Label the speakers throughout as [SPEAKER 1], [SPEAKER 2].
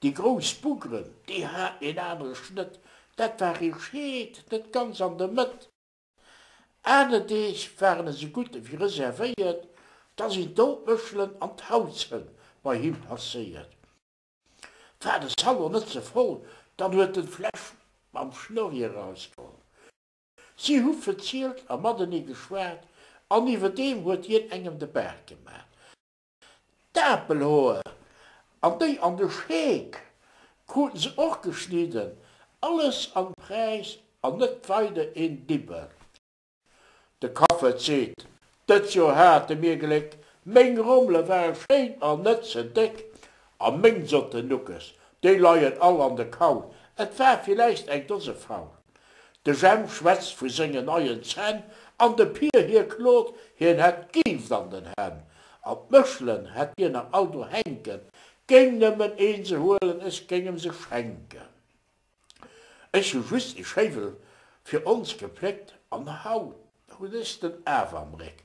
[SPEAKER 1] Déi grouss Buggeren, déi haten een anere Schnëtt, dat war ee Scheet, net ganz an der Mëtt. Aner Deeg waren esou gutt ewéi reservéiert, da sinn d'Outmëschelen an d'Hautzhënn bei him passéiert. War de Salon net ze voll, dann huet en d'Fläsch mam Schnurri erausgeholl. Si hu verzielt a matenee geschwat an iwwerdeem huet hien engem de Baart gemaach. D'Apelhoer an déi an de Scheek kruten se och geschnidden. Alles am Präis an net weider een Dibbel. De Kaffert seet, Dëst Joer hate mir Gléck, meng Rommele ware schéin an net ze déck. A meng sotten Nuckes, déi leien all an de Kaul, et war villäicht eng Dose faul. De Jemp schwätzt vu sengen neien Zänn, an de Pier hie klot, hien hätt d'Gift an den Hänn. An d'Méchelen hätt hien nach all do hänken, géing nëmmen een se huelen, ech géing em se schenken. Ech hu just e Schéiwel fir ons gepléckt, an haut hutt ech den Af am Réck.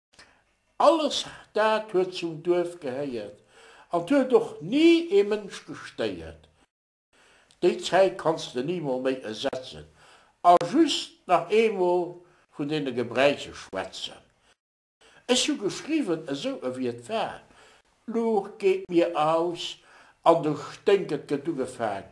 [SPEAKER 1] Alles dat huet zum Duerf gehéiert an 't huet och ni ee Mënsch gestéiert. Déi Zäit kanns de nimol méi esetzen a just nach eemol vun deene Gebräiche schwätzen. Ech hu geschriwwen esou ewéi et war, d'Luucht geet mir aus an de Sténk, et gëtt ugefaang